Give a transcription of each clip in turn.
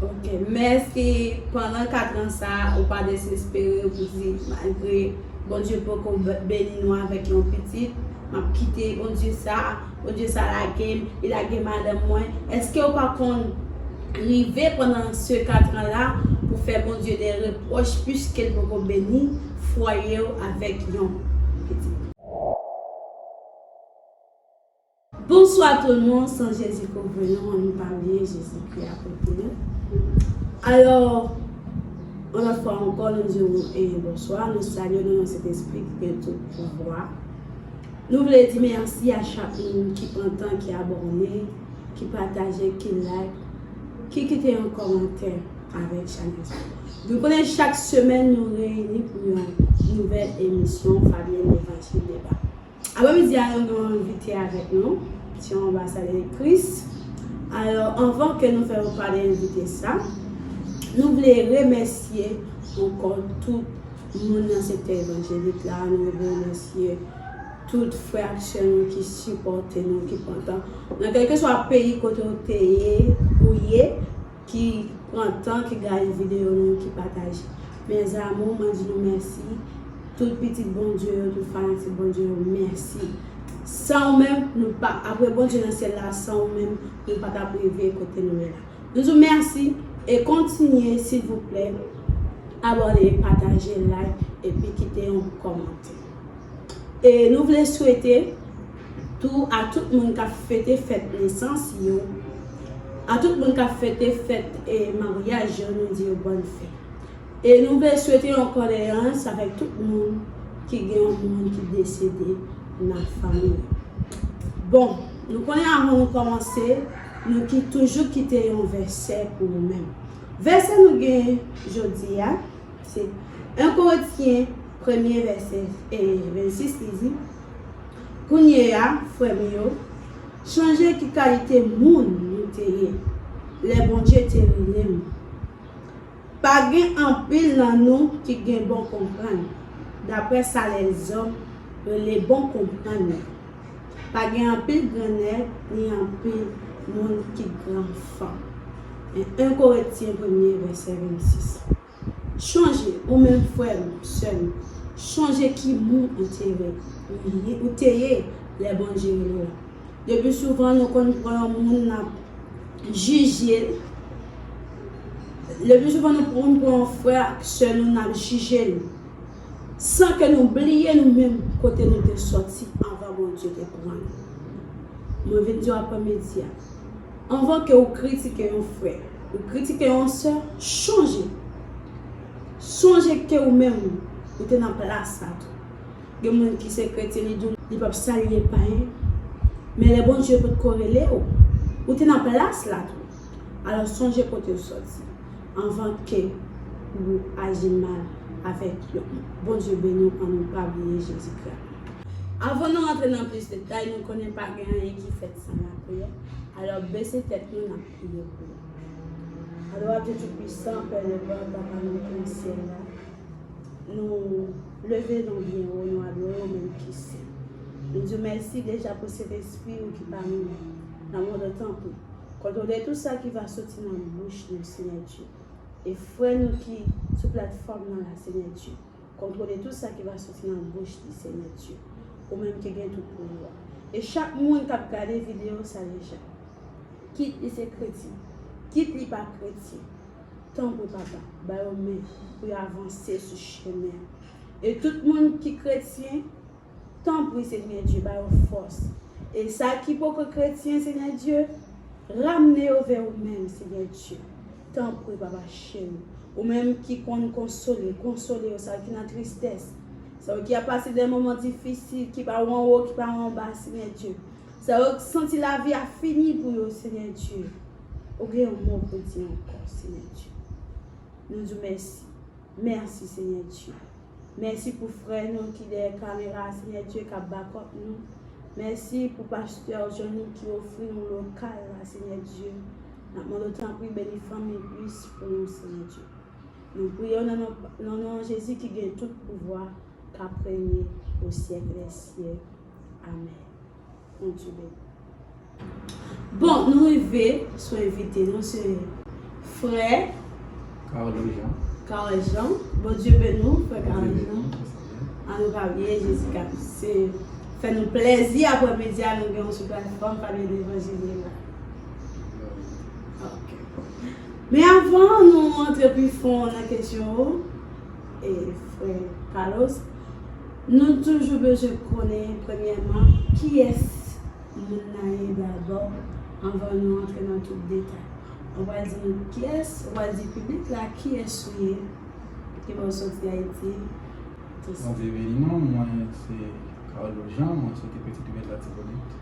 Ok mèsi pandan 4 ans sa ou pa desespere ou di malgre Bondye poko beni nou avèk yon pitit map kite Bondye sa Bondye sa lagem li lage madanm mwen eske ou pa konn rive pandan se 4 ans la pou fè Bondye de reproch piskel poko beni fwayew avèk yon pitit. Bonswa tout le monde san jezi kouvri nou an nou pa bliye jezi kri a kote nou alò yon lòt fwa ankò nou di ou bonswa nou salye nou nan sentespri ki gen tout pouvwa nou vle di mèsi a chak moun ki pran tan ki abòne ki pataje ki like ki kite yon kòmantè avèk chanèl sa nou konnen chak semèn nou reyini pou yon nouvèl emisyon fabie levanjil deba. Aprèmidi a nou gen yon envite avèk nou, se yon anbasadè Kris. Alò, anvan ke nou fè yon pa de envite sa, nou vle remèsye ankò tout moun nan sektè evanjelik la, nou vle remèsye tout frè ak sè nou ki sipòte nou, ki pran tan, nan kèlkeswa peyi kote ou te ye, ou ye. ki pran tan ki gade video nou yo ki pataje mes amour mwen di nou mèsi tout pitit Bondye yo tout fanatik Bondye yo mèsi san ou menm nou pa apre Bondye nan syèl la san ou menm nou pa tap rive kote nou ye la nou di w mèsi e kontinye silvouplè abòne pataje like epi kite yon kòmantè e nou vle swete. Tou a tout moun k ap fete fèt nesans yo, a tout moun k ap fete fèt maryaj yo nou di yo bòn fèt. E nou vle swete yon kondeyans avèk tout moun ki gen yon moun ki desede nan fanmi yo. Bon, nou konnen avan nou kòmanse, nou ki toujou kite yon vèsè pou ou menm. Vèsè nou gen jodi a, se 1 Korentyen premye vèsè 26 li di. Kounye a, frè m yo, chanje ki kalite moun nou te ye lè Bondye te mennen m. Pa gen anpil nan nou ki gen bon konprann, dapre sa lèzòm rele bon konprann la. Pa gen anpil grannèg ni anpil moun ki gran fanm. 1 Korentyen premye vèsè 26. Chonje, ou menm frè m, sè m, chonje ki moun ou te ye, ou te ye lè Bondye rele w la. Le pi souvan nou konn pran yon moun n ap jije l, le pi souvan nou konn pran yon frè ak sè nou n ap jije l, san ke nou bliye nou menm kote nou te sòti anvan Bondye te pran nou. Mwen vin di w aprè midi a. Anvan ke ou kritike yon frè, ou kritike yon sè, chonje! Chonje ke ou menm, ou te nan plas sa tou. Gen moun ki se kretyen li di w li pap salye l payen, men lè Bondye pot ko rele w, ou te nan plas la tou. Alò chonje kote ou soti anvan ke ou aji mal avèk yo. Bondye beni w an nou pa bliye Jezikri. Avan nou rantre nan plis detay, nou konnen pa gen anyen ki fèt. San la priyè. Alò bese tèt nou nap priye pou yo. Alwa Dye tout pwisan, Pè Leblanc, Papa nou ki nan syèl la, nou leve non byen wo, nou adore w menm ki sen. Nou di w mèsi deja pou Sentespri ou ki pami nou. Lanmò de tanpri, kontwole tout sa ki va soti nan bouch nou Senyè Dye. E frè nou ki sou platfòm nan la Senyè Dye. Kontwole tout sa ki va soti nan bouch li Senyè Dye ou menm ki gen tout pouvwa e chak moun kap gade video sa deja kit li se kretyen kit li pa kretyen tanpri papa ba yo men pou yo avanse sou chemen an e tout moun ki kretyen Tanpri Senyè Dye ba yo fòs. E sa ki poko kretyen Senyè Dye, ramne yo vè ou menm Senyè Dye. Tanpri papa cheri. Ou menm ki konn konsole, konsole yo sa yo ki nan tristès. Sa yo ki ap pase de moman difisil, ki pa ou anwo, ki pa ou anba Senyè Dye. Sa yo ki santi lavi a fini pou yo Senyè Dye. Ou gen yon mo pou di ankò Senyè Dye. Nou di w mèsi. Mèsi Senyè Dye. Mèsi pou frè nou ki dèyè kamera a senyè Dieu kap bakòp nou mèsi pou pastè Johnny ki ofri nou lokal la senyè Dieu nap mandew tanpri beni fanmi plis pou nou senyè Dieu nou priyew nan nan non Jezi ki gen tout pouvwa kap renye o syèk lè syèk amèn. Bon nou rive sou envite nou se frè Carlo Jean Carlo Jean Bondye beni w frè Carlo Jean An nou pa bliye Jezi ka se fè nou plèzi aprè midi a nou gen w sou platfòm pale levanjil li la Ok Men avan nou antre pi fon nan kesyon yo e frè Carlos, nou toujou bezwen konnen premyèman kiyès moun nan ye dabò anvan nou antre nan tout detay. Ou pral di nou kiyès, ou pral di piblik la kiyès ou ye, ki bò w soti Ayiti, tout sa. Bon veye non, mwen se Carlos Jean, mwen soti Petite Rivière de l'Artibonite.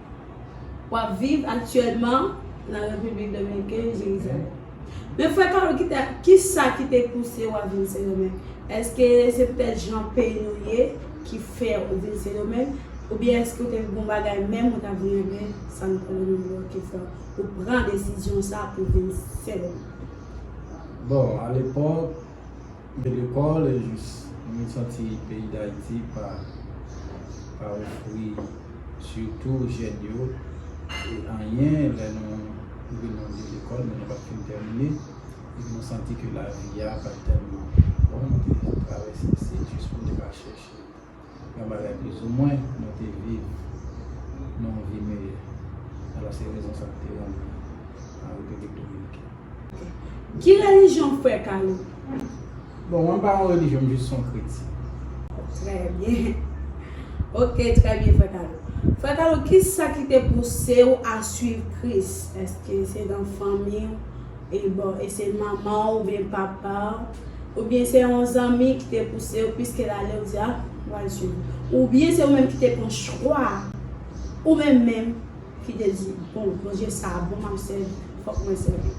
Wap viv aktyèlman nan Repiblik Dominiken, Jerizalèm. Men frè Carol kite kisa ki te pouse w ap vin Sendomeng? Eske se poutèt jan peyi nou ye ki fè ou vin Sendomeng? Oubyen eske ou te gon bagay menm ou ta vin regle Santo Domingo ki fè ou pran desizyon sa pou vin Sendomeng? Bon, alepòk. Mwen de kòl e jis mwen santi peyi dayiti pa pa ofri sitou jèn yo e anyen lè nou rive nan de lekòl men nou pat fin tèmine epi nou santi ke lavi a pat tèlman bon nou te travèse se jis pou nou te ka chèche yon bagay plizoumwen nou te viv nan yon vi meyè. Alò se rezon sa ki te rann li an Repiblik Dominiken. Ki relijyon frè Carlo? Bon, mwen pa yon relijyon, m jis yon kretik. Trè byen. Ok, trè byen frè Carlo. Frè Carlo, ki sa ki te pouse ou a suiv Kris? Eske se nan fanmi ou? E bon, e se manman ou oubyen papa ou? Ou byen se yon zanmi ki te pousew pwiskel ale ou di ah wal swiv ou byen se ou menm ki te pran chwa ou menm menm ki te di bon Bondye sa bon map sèvi fok mwen sèvi.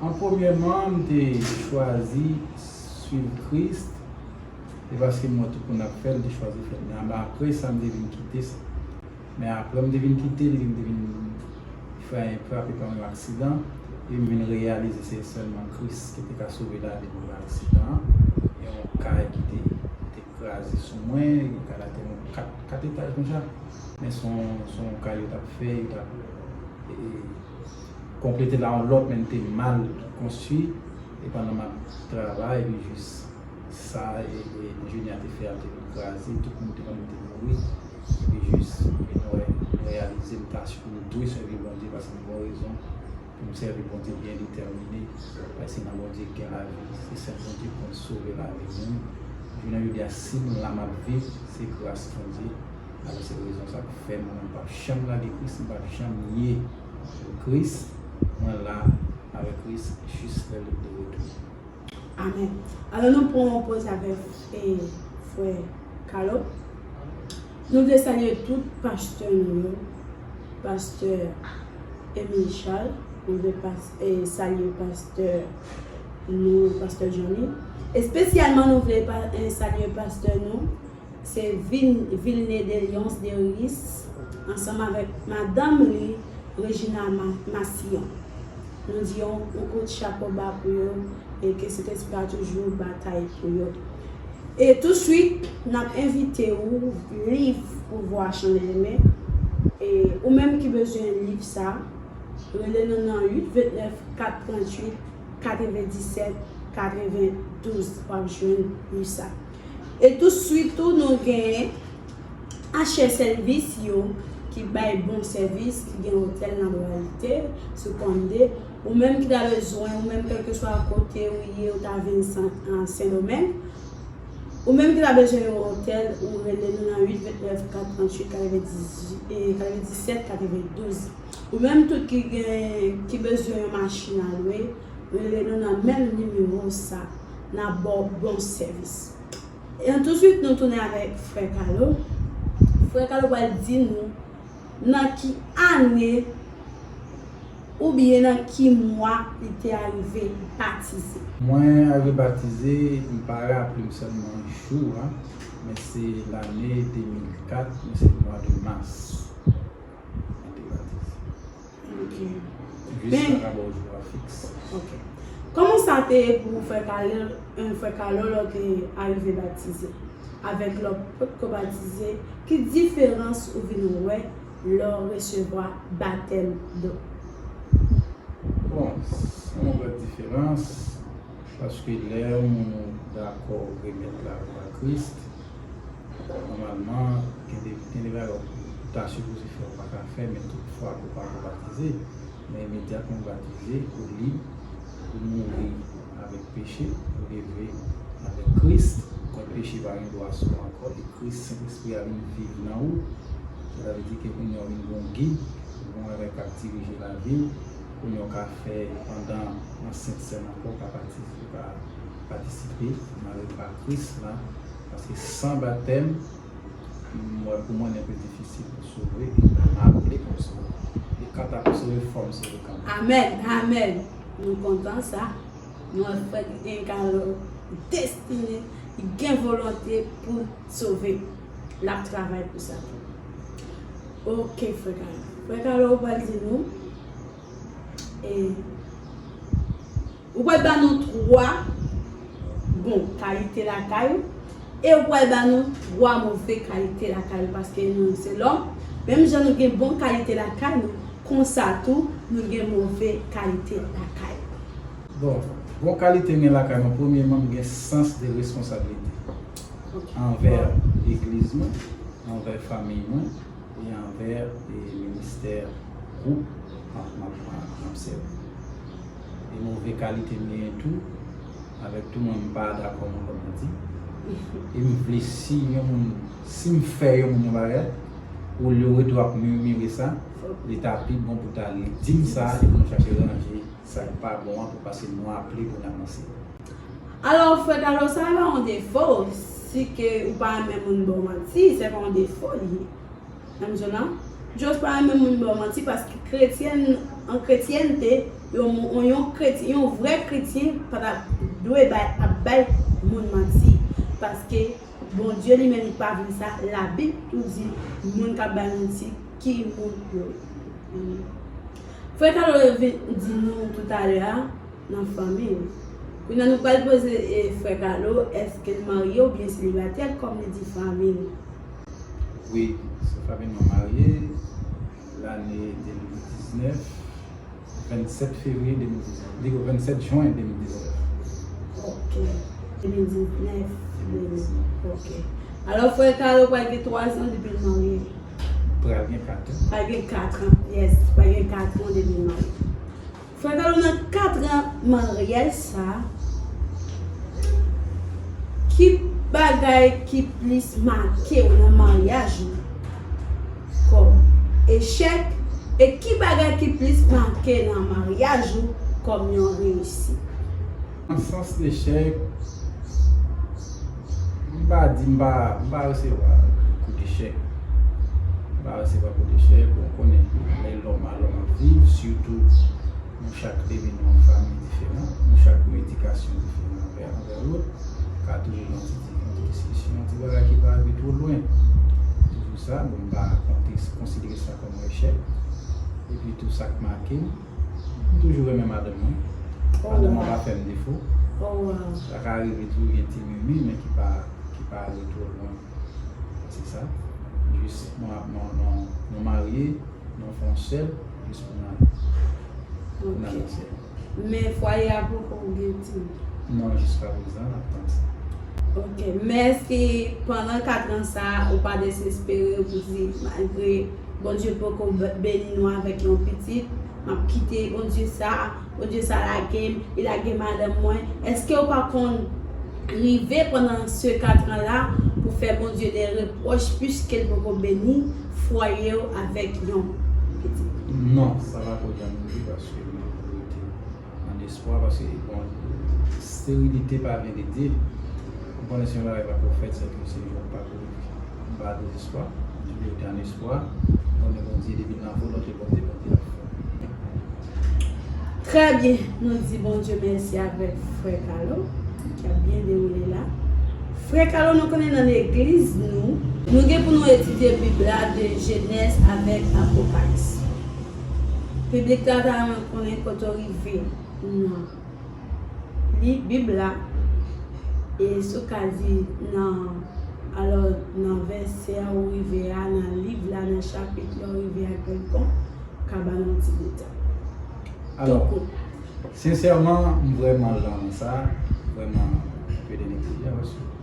An premyèman m te chwazi swiv Kris e paske m wè tout moun ap fèl m te chwazi fèl men apresa m te vin kite sa. Men aprè m te vin kite li, m te vin fè yon frape pa yon aksidan, e m vin reyalize se sèlman Kris ki te ka sove lavi m nan aksidan an. Yon kay ki te te kraze sou mwen, yon kay la te yon kat, kat etaj konsa. Men se yon, se yon kay yo t ap fè, yo t ap konplete la yon lòt, men li te mal konstwi. E pandan m ap travay, epi jis sa e Junior te fè a te vin kraze, tout moun te konn li te mouri. epi jis e nou wè nou reyalize n tach pou nou dwe sèvi Bondye paske n gon rezon pou n sèvi Bondye byen detèmine paske se nan Bondye ki gen lavi se sèl Bondye ki konn sove lavi moun jounen jodi a si m la m ap viv se gras Bondye alò se rezon sa ki fè mwen menm pap janm lage Kris m pap janm nye Kris mwen la avèk Kris jis lè li de retounen. Amen alò nou pran yon pòz avèk frè Carlo nou vle salye tout pastè nou yo pastè Emile Charles nou vle salye pastè nou pastè Johnny espesyalman nou vle salye pastè nou Se vil Vilne de Lyons de Riis ansanm avèk madanm li Regina Massillon. Nou di yon kout chapo ba pou yo e ke Sentespri a toujou batay pou yo. E touswit nap envite ou liv Pouvwa Chanel Eme e ou menm ki bezwen liv sa rele nou nan 8 29 4 38 97 92 wap jwenn liv sa. E tout swit tou nou gen Asher Service yo ki bay bon sèvis, ki gen otèl nan Lwayite, sou Konnde. Ou menm ki ta bezwen, ou menm kèlkeswa kote ou ye, ou ta vin Sendomeng, ou menm ki ta bezwen yon otèl, ou rele nou nan 829 438 97 92. Ou menm tou ki gen, ki bezwen yon machin a lwe, Rele nou nan menm nimewo sa nap baw bon sèvis. An touswit nou tounen avèk frè Kalo, frè Kalo pral di nou nan ki ane oubyen nan ki mwa li te arive batize. Mwen arive batize, m pa raplem sèlman jou a, men se lane 2004 men se mwa de mas mwen te batize. Ok. Vis la ka ba w jwa fiks. Ok. Kòman sa te ye pou frè Kalèl, en frè Kalòl an te arive batize? Avèk lè w pot ko batize, ki diferans ou vin wè lè w resevwa batèm do? Bon, san mwen wè diferans. Paske lè yon moun dakò remèt la vi a Kris, nòmalman gen de gen de bagay ou ta sipoze fè ou pa ka fè men tout fwa ke ou pa ko batize, men imedyatman ou batize ou lib, ou mouri avèk peche, ou leve avèk Kris, donk peche pa gen dwa sou ou ankò e Kris, Sentespri a vin viv nan ou, sa ta vle di ke kounye a ou vin gen yon gid, gen yon bagay kap dirije lavi ou. pou yon ka fè pandan yon sent sèm ankò ou ka batize ou ka patisipe nan repa kris la paske san batèm m wè pou mwen enpe difisil pou sove e m ta maple pou m sove e kanta pou sove fò m sove kanmenm. Amen amen nou kontan sa nou wè frè ki gen kare destine ki gen volonte poul sove lap travay pou sa ok frè kare frè kare ou pral di nou. Ou pral ba nou 3 bon kalite lakay ou e ou pral ba nou 3 move kalite lakay ou paske nou se lòm, menm jan nou gen bon kalite lakay nou konsa tou nou gen move kalite lakay nou. Bon, bon kalite m gen lakay mwen premyeman m gen sans de responsablite anvè legliz mwen, anvè famiy mwen. e anvè ministè gwoup m ap sèvi. E move kalite m genyen tou, avèk tou mwen m pa dakò nan kòm nan di, e m vle si yon moun, si m fè yon moun yon bagay, olye w rete w ap mirmire sa, li ta pi bon pou ta ale di m sa e pou nou chache ranje sa k pa bon an pou pase nou aple pou n avanse. Alò frè Kalo sa pa yon defo, si ke ou pa renmen moun ba w manti se pa yon defo li ye. Menm jan an, Josh pa renmen moun ba w manti paske kretyèn an kretyènte yon moun yon kretyen yon vrè kretyen pa ta dwe bay ap bay moun manti paske Bondye li menm li pa vle sa labib tou di moun k ap bay manti ki moun yo ye. Frè Carlo yo vin di nou toutalè a nan fanmi l. Kounya nou pral poze frè Carlo eske l marye oubyen selibatè kòm li di fanmi l. Wi, sè Faby mwen marye lane 2019, 27 fevriye 2019, pliko 27 jwen 2019. Ok, 2019, ok. Alò frè Carlo pral gen 3 zan depi l marye. pral gen 4 an. Pral gen 4 an, yes, pral gen 4 an depi l marye. Frè Carlo nan 4 an maryaj sa, ki bagay ki plis make w nan maryaj ou kòm echèk e ki bagay ki plis make nan maryaj ou kòm yon reyisit? Nan sans lechèk, m pa di m pa, m pa resevwa kout echèk. M pa resevwa kout echèk, bon konnen lè lòm a lòm ap viv, sitou nou chak te vin nan yon fanmi diferan, nou chak gen edikasyon diferan anvè anvè lòt, ka toujou gen yon ti di, yon ti diskisyon, yon ti bagay ki pa rive two lwen. Toujou sa, bon m pa konte, konsidere sa kòm yon echèk. Epi tou sa k make m. M toujou renmen madanm mwen. Madanm mwen pa fèm defo. Sa ka rive tou gen ti mimi men ki pa ale twò lwen. Se sa. Jis nou marye, nou fè yon sèl jis pou nan nan sèl. Men fwaye a poko gen timoun? Non, jiska prezan nap tann sa. Ok. Men èske pandan 4 ans sa a ou pa desespere ou di malgre Bondye poko beni nou avèk yon pitit map kite Bondye sa Bondye sa lagem li lage madanm mwen eskew pa konn rive pandan se 4 ans la pou fè Bondye de reproch piskel poko beni fwayew avèk yon pitit. Non sa pako janm rive paske mwen rete. An espwa paske bon sterilite pa verite ou konnen se yon bagay pa ko fèt sèke se yon pako m pa dezespwa m rete an espwa m konnen Bondye depi nan volonte Bondye Bondye ap fè. Trè byen, nou di Bondye mèsi avèk frè Kalo ki ap byen dewoule la. Frè Kalo nou konnen nan legliz nou. Nou gen pou nou etidye bib la de jenèz avèk apokalis. Piblik la ta renmen konnen kote w rive nan li Bib la, e si w ka di nan alò nan vèsè ou rive a, nan liv la, nan chapit la ou rive a genlkon, ou ka ba n yon ti detay. Alò, sensèman m vrèman lan sa, vrèman, m pede n ekriti a paske.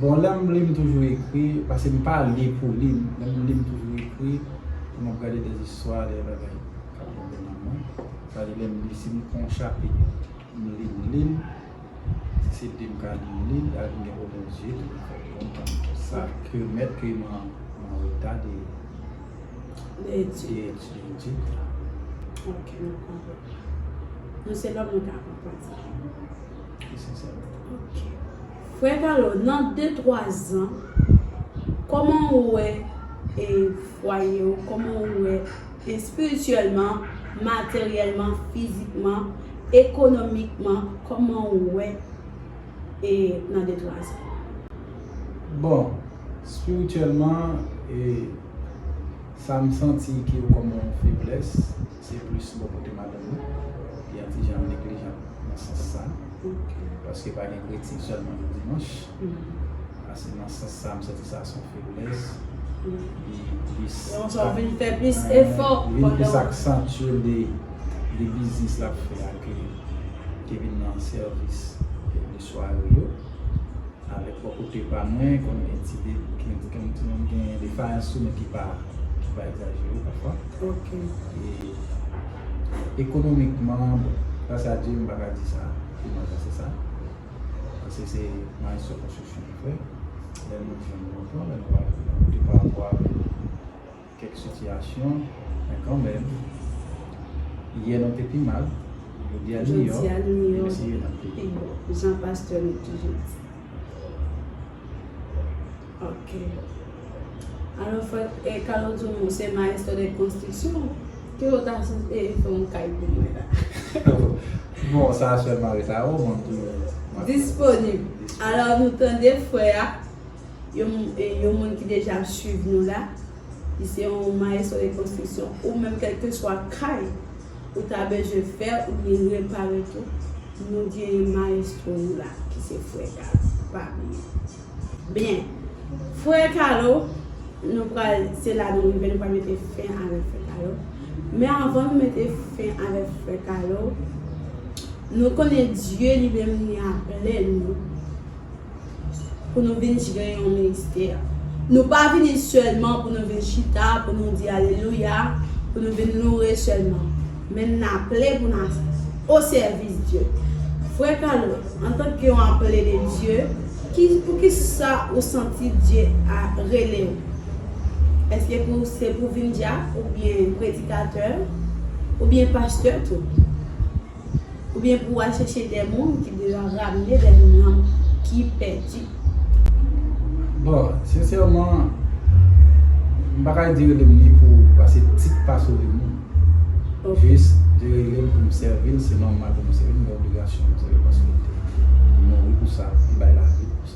Bon lèm li m toujou ekri paske m pa li pou li lèm li m toujou ekri pou map gade de istwa de bagay kap rive nan mwen sa vle di lèm li si m kon chapit m li m li l si se de m ka li m li l ak m gen pwoblèm zye tou m fè pou m konn sa ke m mèt ke m an reta de etid la ok mwen konprann mwen se lòm mwen ta konprann sa ok Frè Carlo nan de twa zan kòman ou wè e fwaye ou kòman ou wè espirityèlman materyèlman fizikman ekonomikman kòman ou wè e nan de twa zan. Bon espirityèlman e sam santi ki yo kòm yon feblès. Se plis bò kote madanm nan ki an ti jan neglijant nan sans sa. Paske pa gen kritik sèlman nan Dimanch. A se nan sans sa m santi sa son feblès. Li plis. Yon sò vin fè plis efò pandan. Li plis aksantye de biznis l ap fè a ke vin nan sèvis. Sware yo avèk bò kote pa mwen konn gen ti debouke bouke m ti moun gen defayans sou mwen ki pa ki pa egzajere pafwa ok e ekonomikman bon gras a Dye m pa ka di sa pi mal pase sa pase se maestro konstriksyon nou fè lè nou jwenn bon plan lè nou pa jwenn bon kote pa rapò avèk Kèk sitiyasyon, men kanmenm, yè nou te pi mal, jodi a nou miyò, demen se yè nap pi bon. Jan pastè nou toujou di. Ok. Alò frè e Carlo Jomo ou se maestro de construction, ke yo ta sou e fè yon kay pou mwen la. Bon sa sèlman rete a ou, mwen m toujou. Disponib. Alò nou tande frè a, Yon moun ki deja ap swiv nou la, li se yon maestro de construction, ou menm kelkeswa kay ou ta bezwen fè oubyen repare tou, nou genyen maestro nou la ki se frè Kalo, pa bliye. Byen, frè Kalo, nou pral, se la nou rive, nou pral mete fen avèk frè Kalo. Men anvan nou mete fen avèk frè Kalo, nou konnen Dye li menm li aple nou. pou nou vin jere yon ministè. Nou pa vini sèlman pou nou vin chita, pou nou di alelouya, pou nou vin loure sèlman. Men n aple pou n osèvis Dye. Frè Carlo, antanke yon aple de Dye, pou ki sa ou santi Dye rele ou? Èske se pou vin dyak oubyen predikatè oubyen pastè tou? Oubyen pou al chèche de moun ki deja ramne de nanm ki pèdi. Bon, sensèman, m pa ka di rele m li pou pase tit pa sove moun. Jis, li rele m pou m sèvi l, se nòmal pou m sèvi l, men obligasyon m se reponsiblite. Li mouri pou sa, li bay lavi l pou sa.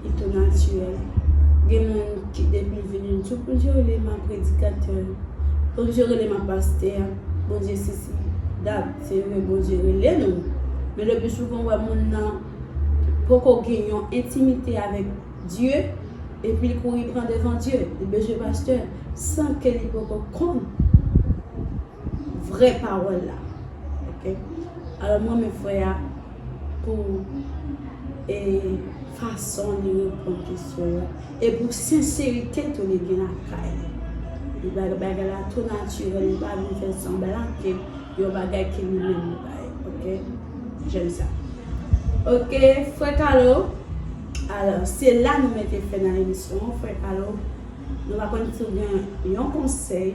Li tou natirèl. Gen moun ki depi l vini l di w Bondye rele m a predikatè, Bondye rele m a pastè, Bondye sesi, dat. Se vre Bondye rele nou, men lepi souvan ou wè moun nan poko gen yon entimite avèk Dye epi l kouri pran devan Dye, li bezwen pastè san ke li poko konn. vrè pawòl la ok alò m renmen frè a pou e fason li reponn kesyon yo e pou senserite tou li gen lakay li li bay bagay la tou natirèl li pa vin fè sanblan ke yon bagay ke li menm li bay ok jèn sa ok frè kalo alò se la nou mèt e fè nan emisyon an frè kalo nou va konn si w gen yon konsèy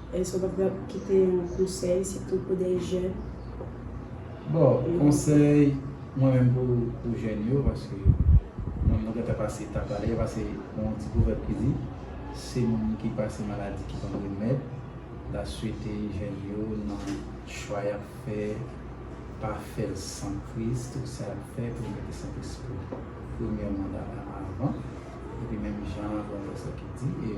Èske w pa ta pral kite yon konsèy sitou pou de jèn? Bon, konsèy mwen menm pou jèn yo, paske mwen mwen gentan pase ta pale, paske gon yon ti pwovèb ki di, se moun ki pase maladi ki konn remèd, ta swete jèn yo nan chwa y ap fè, pa fè l san kriz, tout sa y ap fè pou yo mete Sentespri pou premye manda a anvan, epi menm jan pwofesè ki di,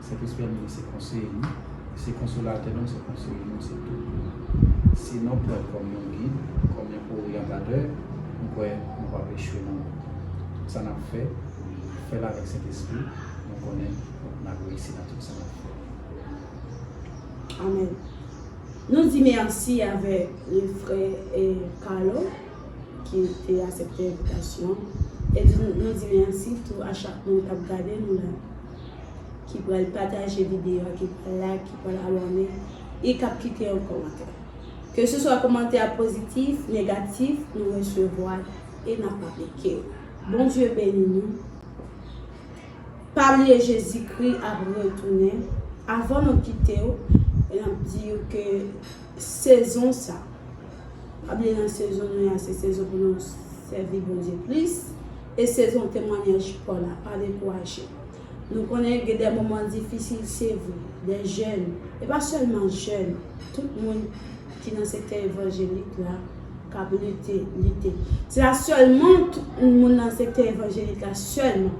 Sentespri a mele se konseye nou, li se konsolatè nou, li se konseye nou, li se tout pou nou. Si nou pran l kòm yon gid, kòm yon oryantatè, m kwè nou pap echwe nan wout. Tout sa nap fè, fè l avèk Sentespri, mwen konnen nap reyisi nan tout sa nap fè. Amen. Nou di merci avèk le frè Carlo ki te asepte envitasyon e nou di merci tou a chak moun kap gade nou la. ki pral pataje videyo a, ki pral like, ki pral abòne e k ap kite yon kòmantè. Ke se swa kòmantè a pozitif, negatif, nou resevwa l e n ap aplike yo. Bondye beni nou. Pa bliye Jezikri ap retounen. Avan nou kite yo, n ap di yo ke sezon sa, pa bliye nan sezon nou ye a, se sezon pou nou sèvi Bondye plis e sezon temwanyaj Pòl la. Pa dekouraje. Nou konnen gen dè moman difisil se vre, dè jèn, e pa sèlman jèn, tout moun ki nan sektè evanjelik la k ap lite, lite. Se pa sèlman tout moun nan sektè evanjelik la sèlman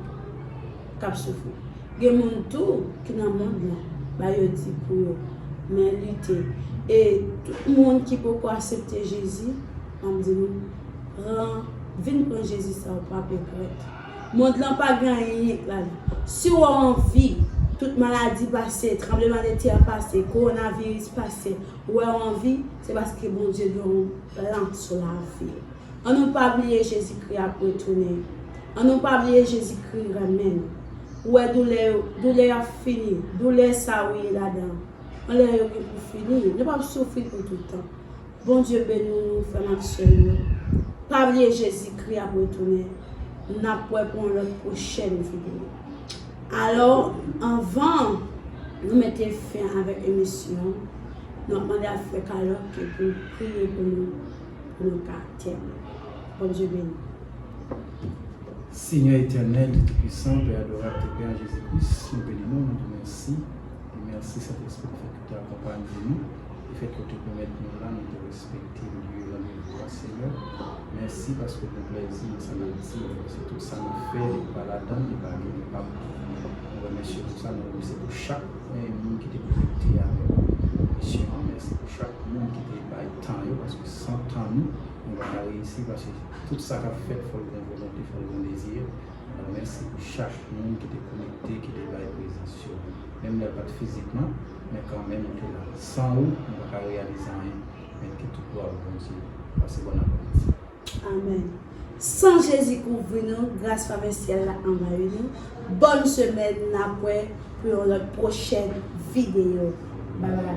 k ap soufri. Gen moun tou ki nan mond lan, ba yo di pou yo men lite. E tout moun ki poko asepte Jezi, an m di nou, pran, vin pran Jezi sa ou pa p regrèt. Mond lan pa gen anyen yen k la li. Si wou anvi, tout maladi pase, tranbleman de tè pase, korona viris pase, wou wè anvi, se paske Bondye gen yon plan sou lavi w. An nou pa bliye Jezikri ap retounen. An nou pa bliye Jezikri renmen nou. Wou wè doulè yo, doulè ap fini, doulè sa wou ye ladan an, yon lè yo gen pou fini, nou pap soufri pou toutan. Bondye beni nou frèm ak sèm yo pa bliye jezi kri ap retounen nap wè pou yon lòt prochèn video alò anvan nou mete fen avèk emisyon nap mande ak frè kalòt ke poul priye pou nou pou nou ka tèmwen bondye beni nou. Senyè etènèl Dye tou pwisan pè adorab te pè an jezi kris nou beni nou nou di mèsi e mèsi sentespri ki fè ke. te akonpanye nou e fè kote pèmèt nou la nou te respekte lye randevou a Seyè mèsi paske ou gen plèzi nan sa nap di yo se tout sa nou fè li pa ladann li pa gen enpak nou remèsye ou pou sa nou remèsye pou chak moun ki te konekte avèk nou pou misyon an mèsi pou chak moun ki te bay tan yo paske san tan nou nou pa ka reyisi paske tout sa kap fèt fòl gen volonte fòl gen dezi mèsi pou chak moun ki te konekte ki te bay prezans yo. Menm lè l pa t fizikman, men kanmenm ou te la. San ou, nou pa ka reyalize anyen, men ke tout glwa pou Bondye. Pase bòn apremidi. Amen San Jezi kouvri nou gras favè syèl la anvayi nou bòn semèn nap wè pou yon lòt pwochèn videyo bye bye.